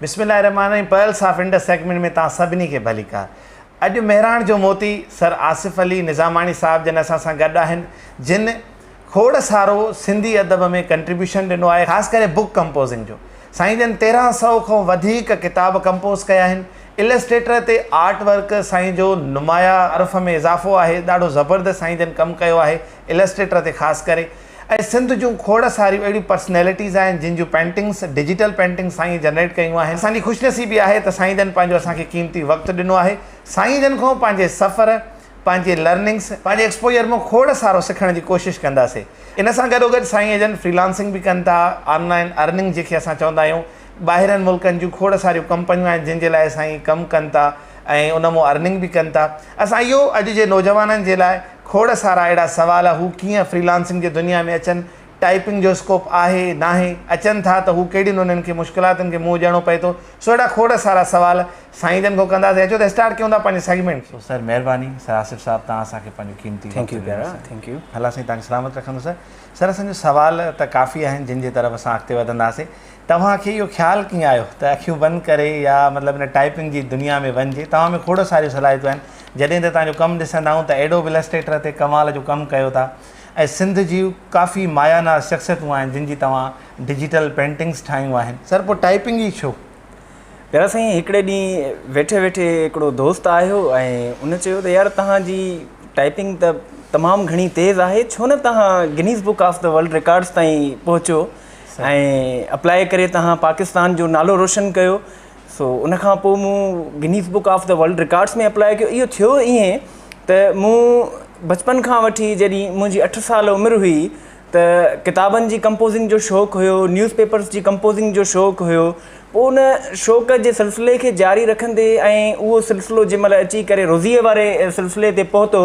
بسم الله الرحمٰن الرحيم پرلس آف انڊس سيگمينٽ ۾ توهان سڀني کي ڀليڪار. اڄ مهراڻ جو موتي سر آصف علي نظاماڻي صاحب جن اسان سان گڏ آهن جن کوڙ سارو سنڌي ادب ۾ ڪنٽريبيوشن ڏنو آهي خاص ڪري بوڪ ڪمپوزنگ جو سائين جن تيرهن سئو کان وڌيڪ ڪتاب ڪمپوز ڪيا آهن السٽريٽر تي آرٽ ورڪ سائين جو نمايا عرف ۾ اضافو آهي ڏاڍو زبردست سائين جن ڪم ڪيو آهي السٽريٽر تي خاص ڪري اهي سنڌ جون کوڙ ساريون اهڙيون پرسنيلٽيز آهن جن جون پينٽنگس ڊجيٽل پينٽنگس سائينء جنريٽ ڪيون آهن. اسان جي خوش نصيبي آهي ته سائين جن پنهنجو اسان کي قيمتي وقت ڏنو آهي. سائين جن کان پنهنجي سفر، پنهنجي لرننگس، پنهنجي ايڪسپوجر مان کوڙ سارو سکڻ جي ڪوشش ڪنداسين. ان سان گڏوگڏ سائين جن فري لانسنگ به ڪن ٿا، آن لائن ارننگ جنهن کي اسان چوندا آهيون، ٻاهرن ملڪن جون کوڙ ساريون ڪمپنيون آهن جن جي لاء سائين ڪم ڪن ٿا ۽ ان مون ارننگ به ڪن ٿا اسان اهو اڄ جي نوجوانن جي لاء کوڙ سارا اهڙا سوال هو ڪيئن فريلانسنگ جي دنيا ۾ اچن ٽائپنگ جو اسڪوپ آهي ناهي اچن ٿا ته هو ڪهڙين انهن کي مشڪلاتن کي منهن ڏيڻو پئي ٿو سو اهڙا کوڙ سارا سوال سائين جن کان ڪنداسين اچو ته اسٽارٽ ڪيون ٿا پنهنجي سيگمينٽ کي. سر مهرباني سر آصف صاحب توهان اسان کي پنهنجو قيمتي وقت ڏنو سر الله سائين توهان کي سلامت رکندو سر سر اسان جو سوال ته ڪافي آهن جن جي طرف اسان اڳتي وڌنداسين. توهان کي اهو خيال ڪيئن آيو ته اکيون بند ڪري يا مطلب ان ٽائپنگ جي دنيا ۾ وڃجي؟ توهان ۾ کوڙ ساريون صلاحيتون آهن. جڏهن ته توهان جو ڪم ڏسندا آهون ته اهڙو به السٽريٽر تي ڪمال جو ڪم ڪيو ٿا ۽ سنڌ جون ڪافي مايا ناز شخصيتون آهن جن جي توهان ڊجيٽل پينٽنگس ٺاهيون آهن. سر پوء ٽائپنگ ئي ڇو؟ پيارا سائين هڪڙي ڏينهن ويٺي ويٺي هڪڙو دوست آيو ۽ ان چيو ته يار توهان جي ٽائپنگ ته تمام گهڻي تيز آهي ڇو نه توهان Guinness book of the world records تائين پهچو. ۽ اپلاء ڪري تهان پاڪستان جو نالو روشن ڪيو سو ان کان پوء مون Guinness book of the world records ۾ apply ڪيو اهو ٿيو ائين ته مون بچپن کان وٺي جڏهن منهنجي اٺ سال عمر هئي ته ڪتابن جي ڪمپوزنگ جو شوق هيو نيوز پيپرس جي ڪمپوزنگ جو شوق هيو پوء ان شوق جي سلسلي کي جاري رکندي ۽ اهو سلسلو جنهن مهل اچي ڪري روزيء واري سلسلي تي پهتو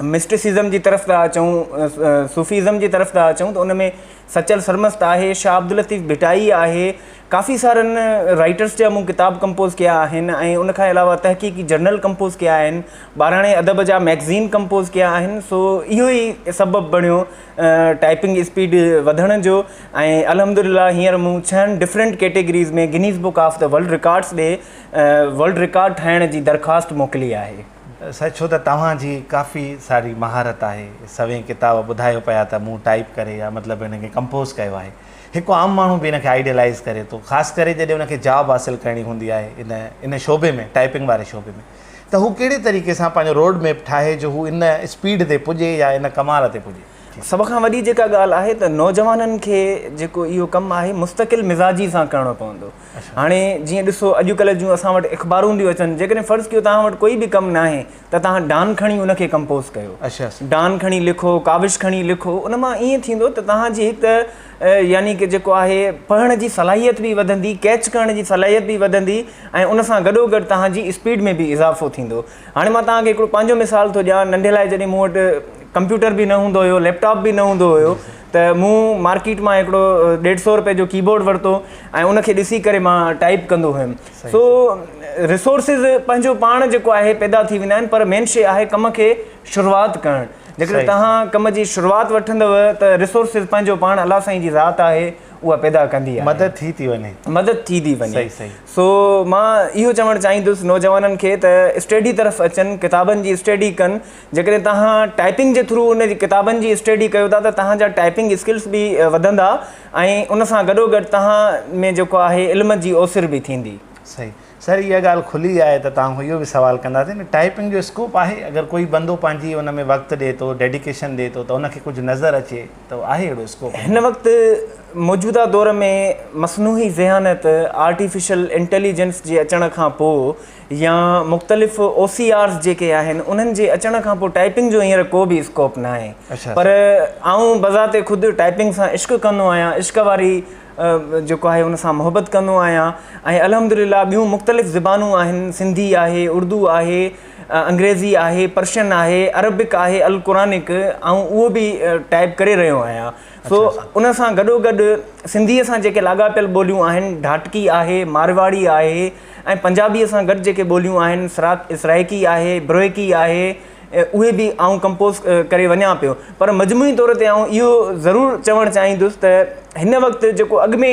مسٽسزم جي طرف ٿا اچون، صوفيزم جي طرف ٿا اچون ته ان ۾ سچل سرمست آهي، شاهه عبداللطيف ڀٽائي آهي، ڪافي سارن رائيٽرس جا مون ڪتاب ڪمپوز ڪيا آهن ۽ ان کان علاوه تحقيقي جرنل ڪمپوز ڪيا آهن، ٻاراڻي ادب جا مئگزين ڪمپوز ڪيا آهن، سو اهو ئي سبب بڻيو ٽائيپنگ اسپيڊ وڌڻ جو ۽ الحمدلله هينئر مون ڇهن different categories ۾ Guinness book of the world records ڏي ورلڊ رڪارڊ ٺاهڻ جي درخواست موڪلي آهي. سائين ڇو ته توهان جي ڪافي ساري مهارت آهي سوين ڪتاب ٻڌايو پيا ته مون ٽائيپ ڪري يا مطلب هن کي ڪمپوز ڪيو آهي هڪ عام ماڻهو به هن کي آئيڊيلائيز ڪري ٿو خاص ڪري جڏهن هن کي جاب حاصل ڪرڻي هوندي آهي ان ان شعبي ۾ ٽائيپنگ واري شعبي ۾ ته هو ڪهڙي طريقي سان پنهنجو روڊ ميپ ٺاهي جو هو ان اسپيڊ تي پڄي يا ان ڪمال تي پڄي. سڀ کان وڏي جيڪا ڳالهه آهي ته نوجوانن کي جيڪو اهو ڪم آهي مستقل مزاجي سان ڪرڻو پوندو هاڻي جيئن ڏسو اڄڪلهه جون اسان وٽ اخبارون ٿيون اچن جيڪڏهن فرض ڪيو توهان وٽ ڪوئي به ڪم ناهي ته توهان ڊان کڻي ان کي ڪمپوز ڪيو ڊان کڻي لکو ڪاوش کڻي لکو ان مان ائين ٿيندو ته توهان جي هڪ ته يعني ڪه جيڪو آهي پڙهڻ جي صلاحيت به وڌندي ڪيچ ڪرڻ جي صلاحيت به وڌندي ۽ ان سان گڏو گڏ توهان جي اسپيڊ ۾ به اضافو ٿيندو هاڻي مان توهان کي هڪڙو پنهنجو مثال ٿو ڏيان ننڍي لاء جڏهن مون وٽ ڪمپيوٽر به نه هوندو هيو ليپ ٽاپ به نه هوندو هيو ته مون مارڪيٽ مان هڪڙو ڏيڍ سو روپئي جو ڪي بورڊ ورتو ۽ ان کي ڏسي ڪري مان ٽائيپ ڪندو هيم سو ريسورسز پنهنجو پاڻ جيڪو آهي پيدا ٿي ويندا آهن پر مين شي آهي ڪم کي شروعات ڪرڻ جيڪڏهن توهان ڪم جي شروعات وٺندو ته ريسورسز پنهنجو پاڻ الله سائين جي ذات آهي اها پيدا ڪندي آهي مدد ٿي ٿي وڃي مدد ٿي ٿي وڃي سو مان اهو چوڻ چاهيندس نوجوانن کي ته اسٽيڊي طرف اچن ڪتابن جي اسٽيڊي ڪن جيڪڏهن تهان ٽائپنگ جي ٿرو ان جي ڪتابن جي اسٽيڊي ڪيو ٿا ته تهان جا ٽائپنگ اسڪلس به وڌندا ۽ ان سان گڏو گڏ تهان ۾ جيڪو آهي علم جي اوسر به ٿيندي صحيح سر اها ڳالهه کلي آهي ته توهان کان اهو به سوال ڪنداسين ته ٽائپنگ جو اسڪوپ آهي اگر ڪوئي بندو پنهنجي ان ۾ وقت ڏي ٿو ڊيڊيڪيشن ڏي ٿو ته ان کي ڪجهه نظر اچي ته آهي اهڙو اسڪوپ؟ هن وقت موجوده دور ۾ مصنوعي ذهانت، آرٽيفيشل انٽيليجنس، جي اچڻ کان پوء يا مختلف او سي آرز جيڪي آهن انهن جي اچڻ کان پوء ٽائپنگ جو هينئر ڪو به اسڪوپ ناهي پر آئون بذات خود ٽائپنگ سان عشق ڪندو آهيان عشق واري جيڪو آهي ان سان محبت ڪندو آهيان ۽ الحمد لله ٻيون مختلف زبانون آهن سنڌي آهي اردو آهي انگريزي آهي، پرشن آهي، عربڪ آهي القرانڪ آئون اهو به ٽائيپ ڪري رهيو آهيان سو ان سان گڏو گڏ سنڌيء سان جيڪي لاڳاپيل ٻوليون آهن ڍاٽڪي آهي، مارواڙي آهي ۽ پنجابيء سان گڏ جيڪي ٻوليون آهن سرائڪي آهي، بروهڪي آهي اهي به آئون ڪمپوز ڪري وڃان پيو پر مجموعي طور تي آئون اهو ضرور چوڻ چاهيندس ته هن وقت جيڪو اڳ ۾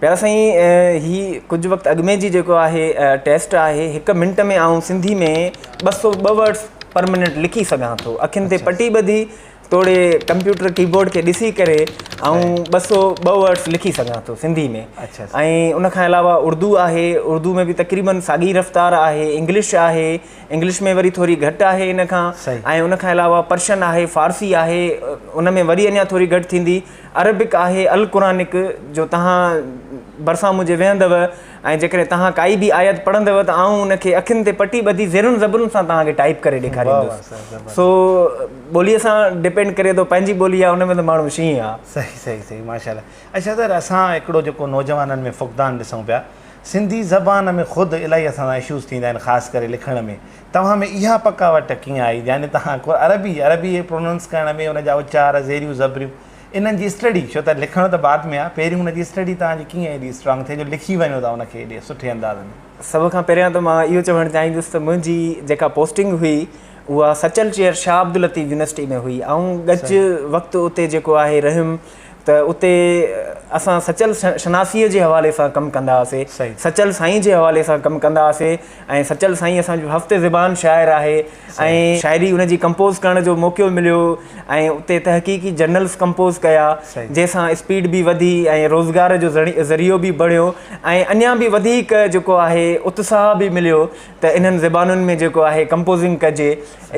پيارا سائين هي ڪجهه وقت اڳ ۾ جي جيڪو آهي ٽيسٽ آهي هڪ منٽ ۾ آئون سنڌي ۾ ٻه سو ٻه ورڊس پر منٽ لکي سگهان ٿو اکين تي پٽي ٻڌي توڙي ڪمپيوٽر ڪيبورڊ کي ڏسي ڪري آئون ٻه سو ٻه ورڊس لکي سگهان ٿو سنڌي ۾ ۽ ان کان علاوه اردو آهي اردو ۾ بي تقريبن ساڳي رفتار آهي انگلش آهي انگلش ۾ وري ٿوري گهٽ آهي ان کان ۽ ان کان علاوه پرشن آهي فارسي آهي ان ۾ وري اڃا ٿوري گهٽ ٿيندي عربڪ آهي القرانڪ جو توهان ڀرسان منهنجي ويهندؤ ۽ جيڪڏهن توهان ڪائي به آيت پڙهندؤ ته آئون ان کي اکين تي پٽي ٻڌي زيرن زبرن سان توهان کي ٽائيپ ڪري ڏيکاريندس سو ٻوليء سان ڊپينڊ ڪري ٿو پنهنجي ٻولي آهي ان ۾ ته ماڻهو شينهن آهي صحيح صحيح صحيح ماشاءالله اچا سر اسان هڪڙو جيڪو نوجوانن ۾ فقدان ڏسون پيا سنڌي زبان ۾ خود الاهي اسان سان اشوز ٿيندا آهن خاص ڪري لکڻ ۾. توهان ۾ اها پڪاوٽ ڪيئن آئي يعني توهان ڪو عربي عربي پروننس ڪرڻ ۾ ان جا اچار زيريون زبريون انهن جي اسٽڊي ڇو ته لکڻ ته بعد ۾ آ پهريون ان جي اسٽڊي توهان جي ڪيئن ايڏي اسٽرانگ ٿي جو لکي وڃو ٿا ان کي ايڏي سٺي انداز ۾. سڀ کان پهريان ته مان اهو چوڻ چاهيندس ته منهنجي جيڪا پوسٽنگ هئي اها سچل چيئر شاهه عبداللطيف يونيورسٽي ۾ هئي آئون ڳچ وقت اتي جيڪو آهي رهيم ته اتي اسان سچل شناسيء جي حوالي سان ڪم ڪندا هئاسي، سچل سائين جي حوالي سان ڪم ڪندا هئاسي ۽ سچل سائين اسان جو هفت زبان شاعر آهي ۽ شاعري ان جي ڪمپوز ڪرڻ جو موقعو مليو ۽ اتي تحقيقي جرنلز ڪمپوز ڪيا جنهن سان اسپيڊ به وڌي ۽ روزگار جو ذريعو به بڻيو ۽ اڃا به وڌيڪ جيڪو آهي اتساهه به مليو. ته انهن زبانن ۾ جيڪو آهي ڪمپوزنگ ڪجي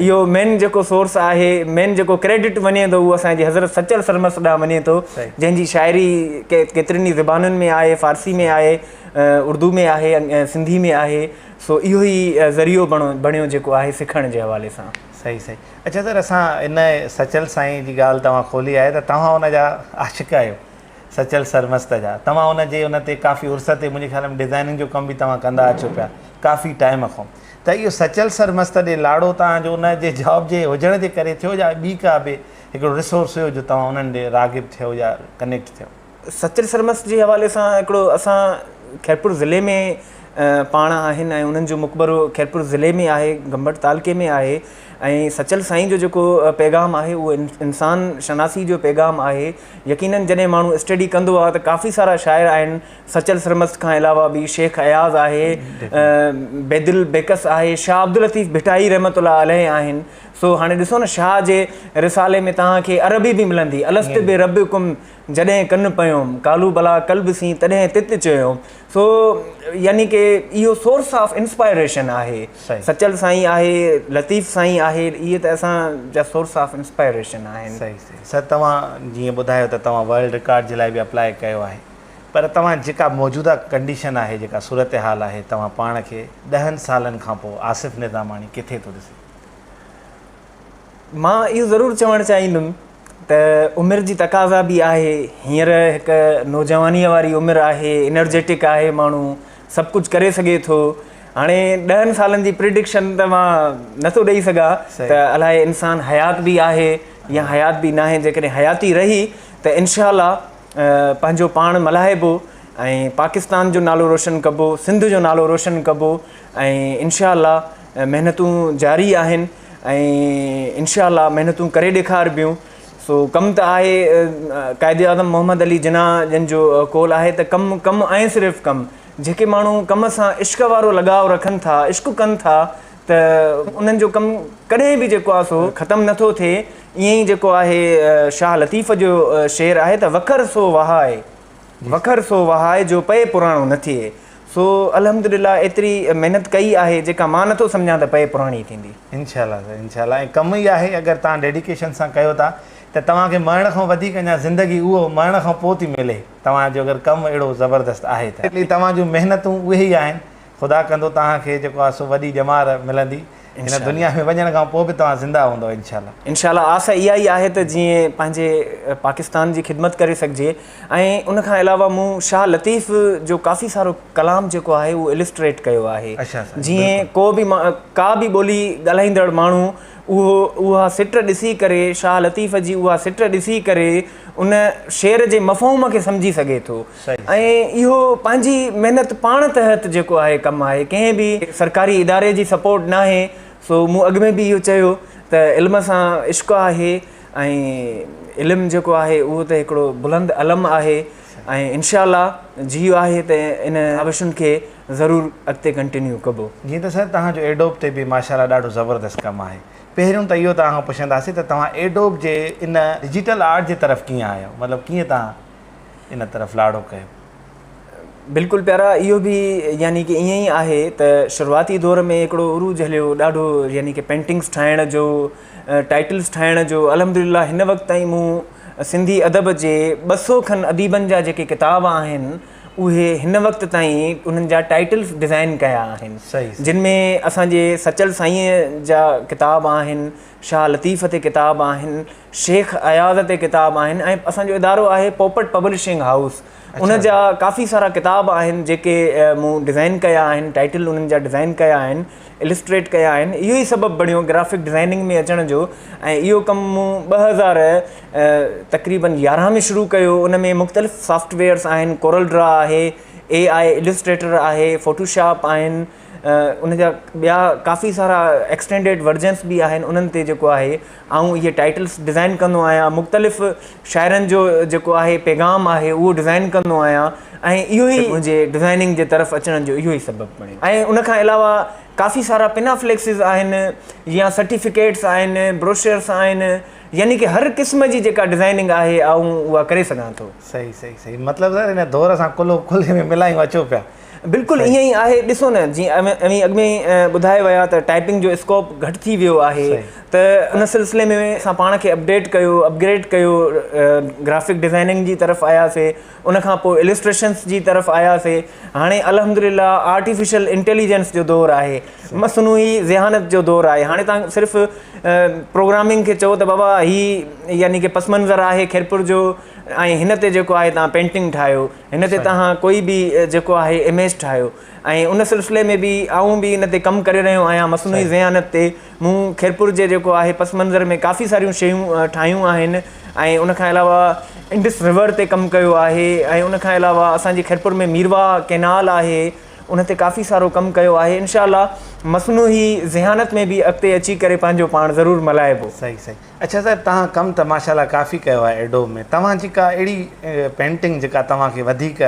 اهو مين جيڪو سورس آهي مين جيڪو ڪريڊٽ وڃي ٿو اهو اسان جي حضرت سچل سرمست ڏانهن وڃي ٿو جنهن جي شاعري ڪيترين ئي زبانن ۾ آهي فارسي ۾ آهي اردو ۾ آهي سنڌي ۾ آهي سو اهو ئي ذريعو بڻيو جيڪو آهي سکڻ جي حوالي سان صحيح صحيح اچا سر اسان ان سچل سائين جي ڳالهه توهان کولي آهي ته توهان ان جا عاشق آهيو سچل سرمست جا توهان ان جي ان تي ڪافي عرصه تي منهنجي خيال ۾ ڊزائننگ جو ڪم به توهان ڪندا اچو پيا ڪافي ٽائيم کان ته اهو سچل سرمست ڏي لاڙو توهان جو ان جي جاب جي هجڻ جي ڪري ٿيو يا ٻي ڪا به هڪڙو ريسورس هيو جو توهان انهن ڏي راغب ٿيو يا ڪنيڪٽ ٿيو. سچل سرمست جي حوالي سان هڪڙو اسان خيرپور ضلعي ۾ پاڻ آهن ۽ انهن جو مقبرو خيرپور ضلعي ۾ آهي گمبٽ تعلقي ۾ آهي ۽ سچل سائين جو جيڪو پيغام آهي اهو انسان شناسي جو پيغام آهي يقينن جڏهن ماڻهو اسٽيڊي ڪندو آهي ته ڪافي سارا شاعر آهن سچل سرمست کان علاوه به شيخ اياز آهي بيدل بيڪس آهي شاهه عبداللطيف ڀٽائي رحمت الله عليه آهن سو هاڻي ڏسو نه شاهه جي رسالي ۾ توهان کي عربي به ملندي الست به رب ڪم جڏهن ڪن پيوم ڪالو بلا قلب سين تڏهن تت چيوم سو يعني ڪي اهو سورس آف انسپائريشن آهي سچل سائين آهي لطيف سائين آهي اهي ته اسان جا سورس آف انسپائريشن آهن سر توهان جيئن ٻڌايو ته توهان ورلڊ رڪارڊ جي لاء به اپلاء ڪيو آهي پر توهان جيڪا موجوده ڪنڊيشن آهي جيڪا صورتحال آهي توهان پاڻ کي ڏهن سالن کان پوء آصف نظاماڻي ڪٿي ٿو ڏسي؟ مان اهو ضرور چوڻ چاهيندم ته عمر جي تقاضا به آهي هينئر هڪ نوجوانيء واري عمر آهي انرجيٽڪ آهي ماڻهو سڀ ڪجهه ڪري سگهي ٿو هاڻي ڏهن سالن جي پرڊڪشن ته مان نٿو ڏئي سگهان ته الاهي انسان حيات به آهي يا حيات به ناهي جيڪڏهن حياتي رهي ته انشاء الله پنهنجو پاڻ ملهائبو ۽ پاڪستان جو نالو روشن ڪبو سنڌ جو نالو روشن ڪبو ۽ انشاء الله محنتون جاري آهن ۽ انشاء الله محنتون ڪري ڏيکاربيون سو ڪم ته آهي قائد اعظم محمد علي جناح جن جو قول آهي ته ڪم ڪم ۽ صرف ڪم جيڪي ماڻهو ڪم سان عشق وارو لڳاء رکن ٿا عشق ڪن ٿا ته انهن جو ڪم ڪڏهن به جيڪو آهي سو ختم نه ٿو ٿئي ائين ئي جيڪو آهي شاهه لطيف جو شعر آهي ته وکر سو وهائي وکر سو وهائي جو پئي پراڻو نه ٿئي. سو الحمدلله ايتري محنت ڪئي آهي جيڪا مان نٿو سمجهان ته پئي پراڻي ٿيندي. انشاء الله سائين انشاء الله ۽ ڪم ئي آهي اگر توهان ڊيڊيڪيشن سان ڪيو ٿا ته توهان کي مرڻ کان وڌيڪ اڃا زندگي اهو مرڻ کان پوء ٿي ملي توهان جو اگر ڪم اهڙو زبردست آهي ته توهان جون محنتون اهي ئي آهن خدا ڪندو توهان کي جيڪو آهي سو وڏي ڄمار ملندي هن دنيا ۾ وڃڻ کان پوء به توهان زنده هوندؤ انشاء الله. انشاء الله آس اها ئي آهي ته جيئن پنهنجي پاڪستان جي خدمت ڪري سگهجي ۽ ان کان علاوه مون شاهه لطيف جو ڪافي سارو ڪلام جيڪو آهي اهو السٽريٽ ڪيو آهي جيئن ڪو به ڪا به ٻولي ڳالهائيندڙ ماڻهو اهو اها سٽ ڏسي ڪري شاهه لطيف جي اها سٽ ڏسي ڪري ان شعر جي مفهوم کي سمجهي سگهي ٿو. ۽ اهو پنهنجي محنت پاڻ تحت جيڪو آهي ڪم آهي ڪنهن به سرڪاري اداري جي سپورٽ ناهي سو مون اڳ ۾ به اهو چيو ته علم سان عشق آهي ۽ علم جيڪو آهي اهو ته هڪڙو بلند علم آهي ۽ انشاء الله جيو آهي ته ان ڪاوشن کي ضرور اڳتي ڪنٽينيو ڪبو. جي ته سائين توهان جو ايڊوب تي به ماشاء الله ڏاڍو زبردست ڪم آهي پهريون ته اهو توهان کان پڇنداسين ته توهان ايڊوب جي ان ڊجيٽل آرٽ جي طرف ڪيئن آيو مطلب ڪيئن توهان ان طرف لاڙو ڪيو. بلڪل پيارا اهو به يعني ڪي ائين ئي آهي ته شروعاتي دور ۾ هڪڙو عروج هليو ڏاڍو يعني ڪي پينٽنگس ٺاهڻ جو ٽائيٽلس ٺاهڻ جو الحمدلله هن وقت تائين مون سنڌي ادب جي ٻه سو کن اديبن جا جيڪي ڪتاب آهن اهي هن وقت تائين انهن جا ٽائيٽلس ڊزائين ڪيا آهن جن ۾ اسان جي سچل سائينء جا ڪتاب آهن شاهه لطيف تي ڪتاب آهن شيخ اياز تي ڪتاب آهن ۽ اسان جو ادارو آهي پوپٽ پبلشنگ هائوس ان جا ڪافي سارا ڪتاب آهن جيڪي مون ڊزائن ڪيا آهن ٽائيٽل انهن جا ڊزائن ڪيا آهن السٽريٽ ڪيا آهن اهو ئي سبب بڻيو گرافڪ ڊزائننگ ۾ اچڻ جو ۽ اهو ڪم مون ٻه هزار تقريبن يارهن ۾ شروع ڪيو ان ۾ مختلف سافٽويئرس آهن ڪورل ڊرا آهي اي آء السٽريٽر آهي فوٽوشاپ آهن ان جا ٻيا ڪافي سارا ايڪسٽينڊيڊ ورجنس به آهن انهن تي جيڪو آهي آئون اهي ٽائيٽلس ڊزائن ڪندو آهيان مختلف شاعرن جو جيڪو آهي پيغام آهي اهو ڊزائن ڪندو آهيان ۽ اهو ئي منهنجي ڊزائننگ جي طرف اچڻ جو اهو ئي سبب بڻيو ۽ ان کان علاوه ڪافي سارا پنا فليڪسز آهن يا سرٽيفڪيٽس آهن بروشرس آهن يعني ڪي هر قسم جي جيڪا ڊزائننگ آهي آئون اها ڪري سگهان ٿو. صحيح صحيح صحيح مطلب سر ان دور سان ڪلهو ڪلهي ۾ ملايون اچو پيا. بلڪل ائين ئي آهي ڏسو نه جي اوهين اڳ ۾ ٻڌائي ويا ته ٽائپنگ جو اسڪوپ گهٽ ٿي ويو آهي ته ان سلسلي ۾ اسان پاڻ کي اپڊيٽ ڪيو اپگريڊ ڪيو گرافڪ ڊزائننگ جي طرف آياسي ان کان پوء السٽريشنس جي طرف آياسي هاڻي الحمدلله آرٽيفيشل انٽيليجنس جو دور آهي مصنوعي ذهانت جو دور آهي هاڻي تان صرف پروگرامنگ کي چئو ته بابا هي يعني ڪي پس منظر آهي خيرپور جو ۽ هن تي جيڪو آهي تان پينٽنگ ٺاهيو هن تي توهان ڪوئي به جيڪو آهي اميج ٺاهيو ۽ ان سلسلي ۾ به آئون به ان تي ڪم ڪري رهيو آهيان مصنوعي ذهانت تي مون خيرپور جي جيڪو آهي پس منظر ۾ ڪافي ساريون شيون ٺاهيون آهن ۽ ان کان علاوه انڊس رور تي ڪم ڪيو آهي ۽ ان کان علاوه اسانجي خيرپور ۾ ميروا ڪينال آهي ان تي ڪافي سارو ڪم ڪيو آهي انشاء الله مصنوعي ذهانت ۾ به اڳتي اچي ڪري پنهنجو پاڻ ضرور ملائبو صحيح صحيح اڇا صاحب توهان ڪم ته ماشاء الله ڪافي ڪيو آهي ايڊوب ۾ توهان جي ڪا اهڙي پينٽنگ جيڪا توهان کي وڌيڪ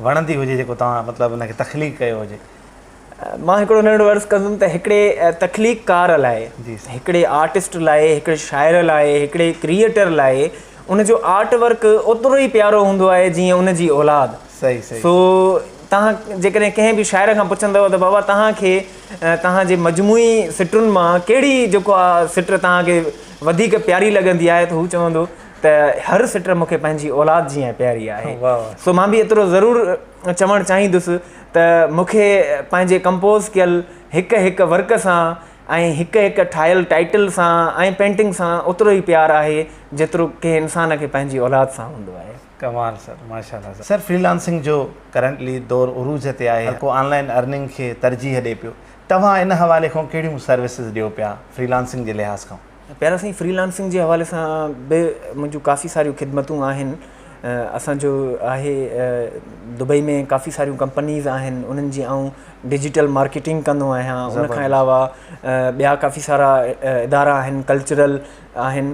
وڻندي هجي جيڪو توهان مطلب ان کي تخليق ڪيو هجي. مان هڪڙو ننڍڙو عرض ڪندم ته هڪڙي تخليق ڪار لاء هڪڙي آرٽسٽ لاء هڪڙي شاعر لاء هڪڙي ڪريئيٽر لاء ان جو آرٽ ورڪ اوترو ئي پيارو هوندو آهي جيئن ان جي اولاد سو توهان جيڪڏهن ڪنهن به شاعر کان پڇندو ته بابا توهان کي توهان جي مجموعي سٽن مان ڪهڙي جيڪو آ سٽ توهان کي وڌيڪ پياري لڳندي آهي ته هو چوندو ته هر سٽ مون کي پنهنجي اولاد جيان پياري آهي سو مان به ايترو ضرور چوڻ چاهيندس ته مون کي پنهنجي ڪمپوز ڪيل هڪ هڪ ورڪ سان ۽ هڪ هڪ ٺاهيل ٽائيٽل سان ۽ پينٽنگ سان اوترو ئي پيار آهي جيترو ڪنهن انسان کي پنهنجي اولاد سان هوندو آهي ڪمال سر ماشاء الله سر سر فري لانسنگ جو ڪرنٽلي دور عروج تي آهي هر ڪو آن لائن ارننگ کي ترجيح ڏي پيو توهان ان حوالي کان ڪهڙيون سروسز ڏيو پيا فري لانسنگ جي لحاظ کان. پيارا سائين فري لانسنگ جي حوالي سان به منهنجون ڪافي ساريون خدمتون آهن اسان جو آهي دبئي ۾ ڪافي ساريون ڪمپنيز آهن انهن جي آئون ڊجيٽل مارڪيٽنگ ڪندو آهيان ان کان علاوه ٻيا ڪافي سارا ادارا آهن ڪلچرل آهن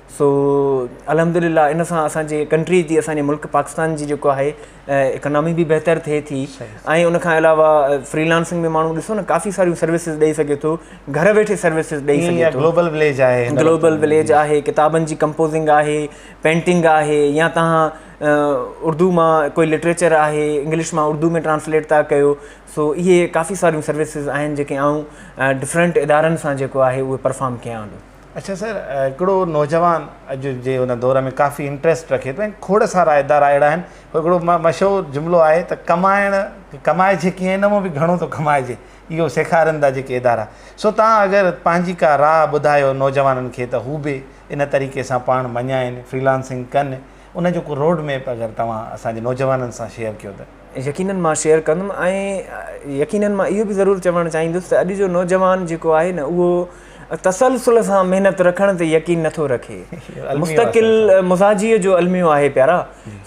سو الحمد لله ان سان اسان جي ڪنٽري جي اسان جي ملڪ پاڪستان جي جيڪو آهي اڪنامي به بهتر ٿئي ٿي ۽ ان کان علاوه فري لانسنگ ۾ ماڻهو ڏسو نه ڪافي ساريون سروسز ڏئي سگهي ٿو گهر ويٺي سروسز ڏئي سگهي ٿو گلوبل وليج آهي گلوبل وليج آهي ڪتابن جي ڪمپوزنگ آهي پينٽنگ آهي يا تهان اردو مان ڪوئي لٽريچر آهي انگلش مان اردو ۾ ٽرانسليٽ تها ڪيو سو اهي ڪافي ساريون سروسز آهن جيڪي آئون ڊفرنٽ ادارن سان جيڪو آهي اهو پرفام ڪيان ٿو اڇا سر هڪڙو نوجوان اڄ جي ان دور ۾ ڪافي انٽريسٽ رکي ٿو کوڙ سارا ادارا اهڙا آهن هڪڙو مشهور جملو آهي ته ڪمائڻ ڪمائجي ڪيئن ان مان به گهڻو ٿو ڪمائجي اهو سيکارين ٿا جيڪي ادارا سو تان اگر پنهنجي ڪا راهه ٻڌايو نوجوانن کي ته هو به ان طريقي سان پاڻ مڃائين فريلانسنگ ڪن ان جو ڪو روڊ ميپ اگر توهان اسان جي نوجوانن سان شيئر ڪيو ته يقينن مان شيئر ڪندم ۽ يقينن مان اهو به ضرور چوڻ چاهيندس ته اڄ جو نوجوان جيڪو آهي نه اهو تسلسل سان محنت رکڻ تي يقين نٿو رکي مستقل مزاجي جو الميو آهي پيارا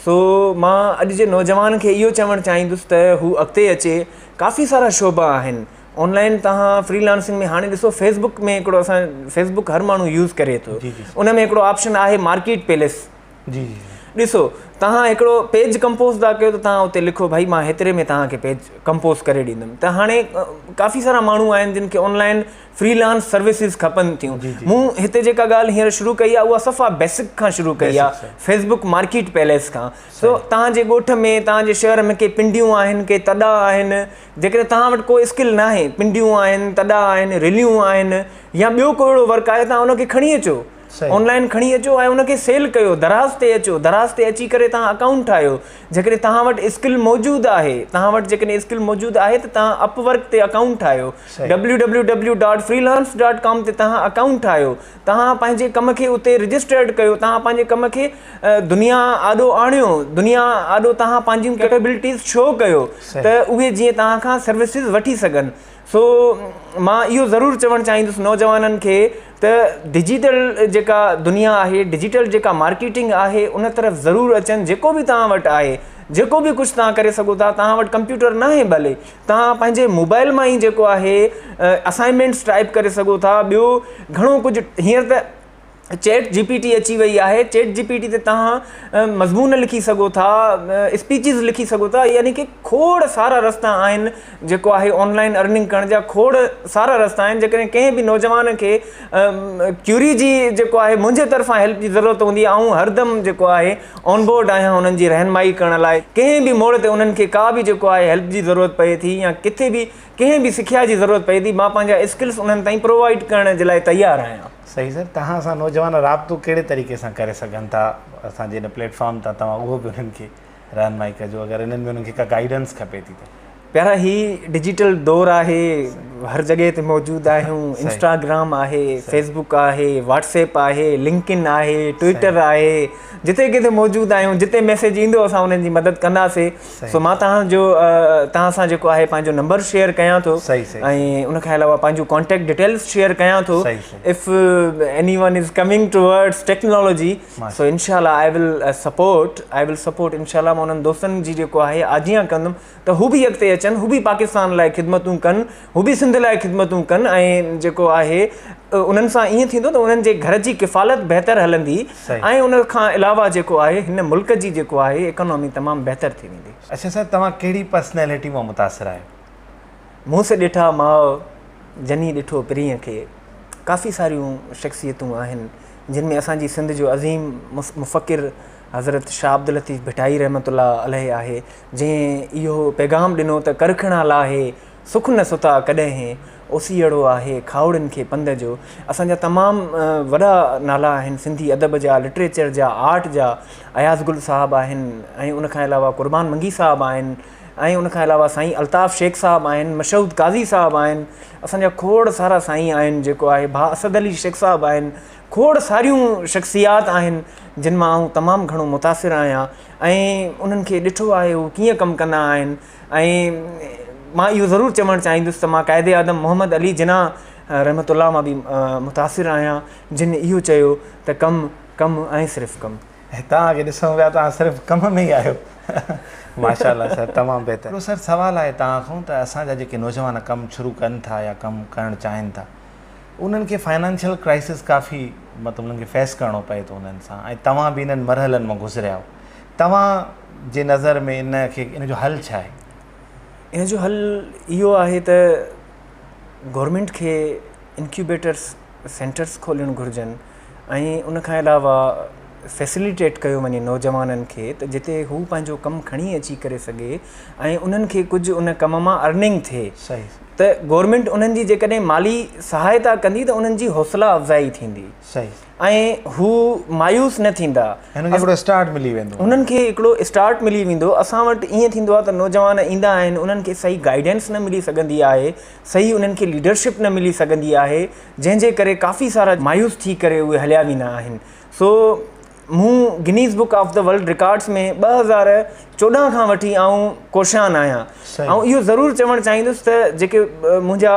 سو مان اڄ جي نوجوان کي اهو چوڻ چاهيندس ته هو اڳتي اچي ڪافي سارا شعبا آهن آنلائن تان فري لانسنگ ۾ هاڻي ڏسو فيسبڪ ۾ هڪڙو اسان فيسبڪ هر ماڻهو يوز ڪري ٿو ان ۾ هڪڙو آپشن آهي مارڪيٽ پيلس جي جي ڏسو توهان هڪڙو پيج ڪمپوز ٿا ڪيو ته توهان اتي لکو ڀائي مان هيتري ۾ توهان کي پيج ڪمپوز ڪري ڏيندم ته هاڻي ڪافي سارا ماڻهو آهن جن کي آنلائن فريلانس سروسز کپن ٿيون مون هتي جيڪا ڳالهه هينئر شروع ڪئي آهي اها صفا بيسڪ کان شروع ڪئي آهي فيسبوڪ مارڪيٽ پيليس کان سو توهان جي ڳوٺ ۾ توهان جي شهر ۾ ڪي پنڊيون آهن ڪي تڏا آهن جيڪڏهن توهان وٽ ڪو اسڪل نه آهي پنڊيون آهن تڏا آهن رليون آهن يا ٻيو ڪو اهڙو ورڪ آهي توهان ان کي کڻي اچو آن لائن کڻي اچو ۽ ان کي سيل ڪيو، دراز تي اچو، دراز تي اچي ڪري توهان اڪائونٽ ٺاهيو، جيڪڏهن توهان وٽ اسڪل موجود آهي، توهان وٽ جيڪڏهن اسڪل موجود آهي ته توهان اپ ورڪ تي اڪائونٽ ٺاهيو، W W W dot freelance dot com تي توهان اڪائونٽ ٺاهيو، توهان پنهنجي ڪم کي اتي رجسٽرڊ ڪيو، توهان پنهنجي ڪم کي دنيا آڏو آڻيو، دنيا آڏو توهان پنهنجيون ڪيپيبلٽيز شو ڪيو ته اهي جيئن توهان کان سروسز وٺي سگهن. سو مان اهو ضرور چوڻ چاهيندس نوجوانن کي ته ڊجيٽل جيڪا دنيا آهي ڊجيٽل جيڪا مارڪيٽنگ آهي ان طرف ضرور اچن جيڪو بي توهان وٽ آهي جيڪو بي ڪجهه توهان ڪري سگهو ٿا توهان وٽ ڪمپيوٽر نه آهي ڀلي توهان پنهنجي موبائل مان ئي جيڪو آهي اسائنمينٽس ٽائپ ڪري سگهو ٿا ٻيو گهڻو ڪجهه هيئنر ته چيٽ جي پي ٽي اچي وئي آهي چيٽ جي پي ٽي تي تهان مضمون لکي سگهو ٿا اسپيچز لکي سگهو ٿا يعني ڪي کوڙ سارا رستا آهن جيڪو آهي آنلائن ارننگ ڪرڻ جا کوڙ سارا رستا آهن جيڪڏهن ڪنهن به نوجوان کي ڪيوري جي جيڪو آهي منهنجي طرفان هيلپ جي ضرورت هوندي آئون هردم جيڪو آهي آن بورڊ آهيان انهن جي رهنمائي ڪرڻ لاء ڪنهن به موڙ تي انهن کي ڪا به جيڪو آهي هيلپ جي ضرورت پئي ٿي يا ڪٿي به ڪنهن به سکيا جي ضرورت پئي ٿي مان پنهنجا اسڪلس انهن تائين پرووائيڊ ڪرڻ جي لاء تيار آهيان صحيح سر توهان سان نوجوان رابطو ڪهڙي طريقي سان ڪري سگهن ٿا اسان جي ان پليٽ فارم تان توهان اهو به انهن کي رهنمائي ڪجو اگر انهن ۾ انهن کي ڪا گائيڊنس کپي ٿي ته. پيارا هي ڊجيٽل دور آهي هر جڳهه تي موجود آهيون انسٽاگرام آهي فيس بوڪ آهي واٽس ايپ آهي لنڪ ان آهي ٽوئيٽر آهي جتي ڪٿي موجود آهيون جتي ميسيج ايندو اسان انهن جي مدد ڪنداسي سو مان تهان جو تهان سان جيڪو آهي پنهنجو نمبر شيئر ڪيان ٿو ۽ ان کان علاوه پنهنجون ڪانٽيڪٽ ڊيٽيلس شيئر ڪيان ٿو if anyone is coming towards technology so انشاء الله I will support I will support انشاء الله مون انهن دوستن جي جيڪو آهي آجيان ڪندم ته هو به اڳتي اچن هو به پاڪستان لاء خدمتون ڪن هو به سنڌ لاء خدمتون ڪن ۽ جيڪو آهي انهن سان ائين ٿيندو ته انهن جي گهر جي ڪفالت بهتر هلندي ۽ ان کان علاوه جيڪو آهي هن ملڪ جي جيڪو آهي اڪانومي تمام بهتر ٿي ويندي. اچا صاحب توهان ڪهڙي پرسنيلٽي مان متاثر آهيو؟ مونس ڏٺا ماء جني ڏٺو پرينء کي ڪافي ساريون شخصيتون آهن جن ۾ اسان جي سنڌ جو عظيم مفڪر حضرت شاهه عبداللطيف ڀٽائي رحمة الله عليه آهي جنهن اهو پيغام ڏنو ته ڪرکڻا لاهي سک نه ستا ڪڏهن هي اوسيئڙو آهي کاهوڙن کي پنڌ جو اسان جا تمام وڏا نالا آهن سنڌي ادب جا لٽريچر جا آرٽ جا اياز گل صاحب آهن ۽ ان کان علاوه قربان منگي صاحب آهن ۽ ان کان علاوه سائين الطاف شيخ صاحب آهن مشهود قاضي صاحب آهن اسان جا کوڙ سارا سائين آهن جيڪو آهي ڀا اسد علي شيخ صاحب آهن کوڙ ساريون شخصيات آهن جن مان آئون تمام گهڻو متاثر آهيان ۽ انهن کي ڏٺو آهي هو ڪيئن ڪم ڪندا آهن ۽ مان اهو ضرور چوڻ چاهيندس ته مان قائد اعظم محمد علي جناح رحمة الله مان به متاثر آهيان جن اهو چيو ته ڪم ڪم ۽ صرف ڪم. توهان کي ڏسون پيا توهان صرف ڪم ۾ ئي آهيو ماشاءالله سر تمام بهتر. هڪڙو سر سوال آهي توهان کان ته اسان جا جيڪي نوجوان ڪم شروع ڪن ٿا يا ڪم ڪرڻ چاهين ٿا انهن کي فنانشل ڪرائسس ڪافي مطلب انهن کي فيس ڪرڻو پئي ٿو انهن سان ۽ توهان به انهن مرحلن مان گذريا آهيو توهان جي نظر ۾ ان کي ان جو حل ڇا آهي؟ ان جو حل اهو آهي ته گورنمينٽ کي انڪيوبيٽرس سينٽرس کولڻ گهرجن ۽ ان کان علاوه فيسليٽيٽ ڪيو وڃي نوجوانن کي ته جتي هو پنهنجو ڪم کڻي اچي ڪري سگهي ۽ انهن کي ڪجهه ان ڪم مان ارننگ ٿئي ته گورنمينٽ انهن جي جيڪڏهن مالي سهائتا ڪندي ته انهن جي حوصلا افزائي ٿيندي ۽ هو مايوس نه ٿيندا. هنن کي هڪڙو اسٽارٽ ملي ويندو. هنن کي هڪڙو اسٽارٽ ملي ويندو. اسان وٽ ائين ٿيندو آهي ته نوجوان ايندا آهن انهن کي صحيح گائيڊنس نه ملي سگهندي آهي صحيح انهن کي ليڊرشپ نه ملي سگهندي آهي جنهن جي ڪري ڪافي سارا مايوس ٿي ڪري اهي هليا ويندا آهن سو مون Guinness book of the world records ۾ ٻه هزار چوڏهن کان وٺي آئون ڪوشان آهيان آئون اهو ضرور چوڻ چاهيندس ته جيڪي منهنجا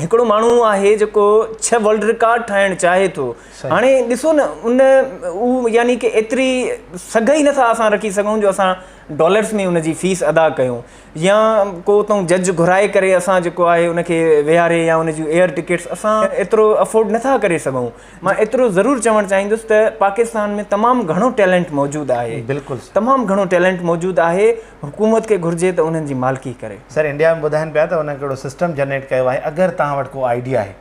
هڪڙو ماڻهو آهي جيڪو ڇهه ورلڊ رڪارڊ ٺاهڻ چاهي ٿو هاڻي ڏسو نه ان يعني ڪي ايتري سگهه ئي نٿا اسان رکي سگهون جو اسان ڊالرس ۾ ان جي فيس ادا ڪيون يا ڪو اتون جج گهرائي ڪري اسان جيڪو آهي ان کي ويهاري يا ان جون ايئر ٽڪيٽس اسان ايترو افورڊ نٿا ڪري سگهون مان ايترو ضرور چوڻ چاهيندس ته پاڪستان ۾ تمام گهڻو ٽيلنٽ موجود آهي بلڪل سر تمام گهڻو ٽيلنٽ موجود آهي حڪومت کي گهرجي ته انهن جي مالڪي ڪري. سر انڊيا ۾ ٻڌائن پيا ته انهن ڪهڙو سسٽم جنريٽ ڪيو آهي اگر توهان وٽ ڪو آئيڊيا آهي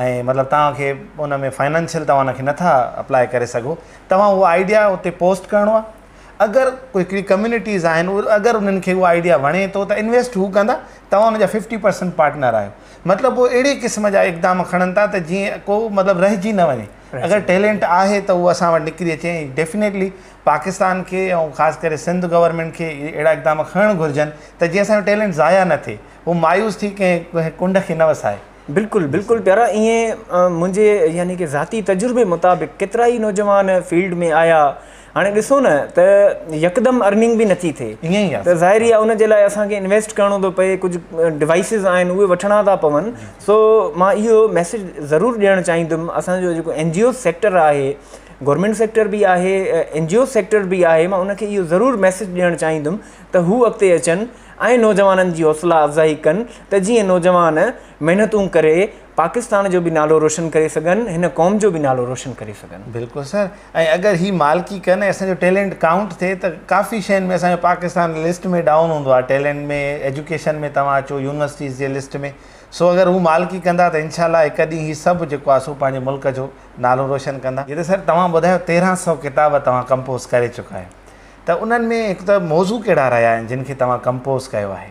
۽ مطلب توهان کي ان ۾ فائنانشل توهان ان کي نٿا اپلائي ڪري سگهو توهان اهو آئيڊيا اتي پوسٽ ڪرڻو آهي اگر ڪو هڪڙي ڪميونٽيز آهن اگر انهن کي اهو آئيڊيا وڻي ٿو ته انويسٽ هو ڪندا توهان ان جا ففٽي پرسنٽ پارٽنر آهيو مطلب هو اهڙي قسم جا اقدام کڻن ٿا ته جيئن ڪو مطلب رهجي نه وڃي اگر ٽيلنٽ آهي ته هو اسان وٽ نڪري اچي ۽ ڊيفينيٽلي پاڪستان کي ۽ خاص ڪري سنڌ گورنمينٽ کي اهڙا اقدام کڻڻ گهرجن ته جيئن اسان جو ٽيلنٽ ضايع نه ٿئي هو مايوس ٿي ڪنهن ڪنڊ کي نه وسائي بلڪل بلڪل پيارا ائين منهنجي يعني ڪي ذاتي تجربي مطابق ڪيترائي نوجوان فيلڊ ۾ آيا هاڻي ڏسو نه ته يڪدم ارننگ به نٿي ٿئي ته ظاهر ئي آهي ان جي لاء اسان کي انويسٽ ڪرڻو ٿو پئي ڪجهه ڊوائسز آهن اهي وٺڻا ٿا پون سو مان اهو ميسج ضرور ڏيڻ چاهيندم اسانجو جيڪو اين جي او سيڪٽر آهي گورنمنٽ سيڪٽر به آهي اين جي او سيڪٽر به آهي مان ان کي اهو ضرور ميسج ڏيڻ چاهيندم ته هو اڳتي اچن ۽ نوجوانن جي حوصلا افزائي ڪن ته جيئن نوجوان محنتون ڪري پاڪستان جو به نالو روشن ڪري سگهن هن قوم جو به نالو روشن ڪري سگهن. بلڪل سر ۽ اگر هي مالڪي ڪن ۽ اسان جو ٽيلينٽ ڪائونٽ ٿئي ته ڪافي شين ۾ اسان جو پاڪستان لسٽ ۾ ڊائون هوندو آهي ٽيلينٽ ۾ ايجوڪيشن ۾ توهان اچو يونيورسٽيز جي لسٽ ۾ سو اگر هو مالڪي ڪندا ته انشاء الله هڪ ڏينهن هي سڀ جيڪو آهي سو پنهنجي ملڪ جو نالو روشن ڪندا. جي ته سر توهان ٻڌايو تيرهن سئو ڪتاب توهان ڪمپوز ڪري چڪا آهيو ته انهن ۾ هڪ ته موضوع ڪهڙا رهيا آهن جن کي توهان ڪمپوز ڪيو آهي؟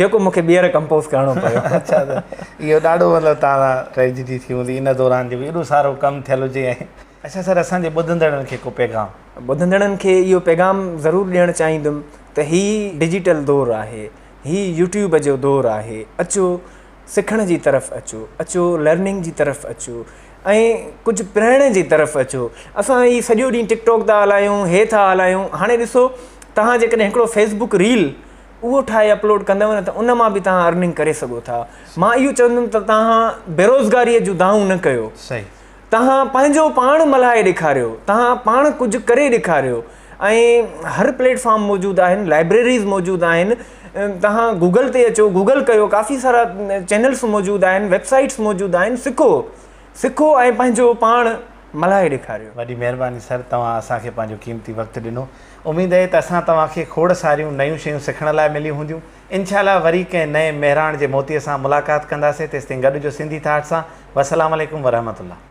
جيڪو مون کي ٻيهر ڪمپوز ڪرڻو پيو. اڇا ته اهو ڏاڍو مطلب توهان سان ٽريجڊي ٿي هوندي ان دوران جو ايڏو سارو ڪم ٿيل هجي ۽. اڇا سر اسان جي ٻڌندڙن کي ڪو پيغام. ٻڌندڙن کي اهو پيغام ضرور ڏيڻ چاهيندم ته هي ڊجيٽل دور آهي هي يوٽيوب جو دور آهي اچو سکڻ جي طرف اچو اچو لرننگ جي طرف اچو ۽ ڪجهه پرڻ جي طرف اچو اسان هي سڄو ڏينهن ٽڪ ٽاڪ ٿا هلايون هي ٿا هلايون هاڻي ڏسو توهان جيڪڏهن هڪڙو فيسبوڪ ريل اهو ٺاهي اپلوڊ ڪندو نه ته ان مان به توهان ارننگ ڪري سگهو ٿا مان اهو چوندم ته توهان بيروزگاري جو دانهون نه ڪيو توهان پنهنجو پاڻ ملهائي ڏيکاريو توهان پاڻ ڪجهه ڪري ڏيکاريو ۽ هر پليٽ فارم موجود آهن لائبريريز موجود آهن توهان گوگل تي اچو گوگل ڪيو ڪافي سارا چينلس موجود آهن ويب سائيٽس موجود آهن سکو سکو ۽ پنهنجو پاڻ ملهائي ڏيکاريو. وڏي مهرباني سر توهان اسان کي پنهنجو قيمتي وقت ڏنو اميد اهي ته اسان توهان کي کوڙ ساريون نيون شيون سکڻ لاء مليون هونديون انشاء الله وري ڪنهن نئين مهراڻ جي موتي سان ملاقات ڪنداسين تيستائين گڏ هجو سنڌي ٿاٽ سان وسلام عليڪم ورحمة الله.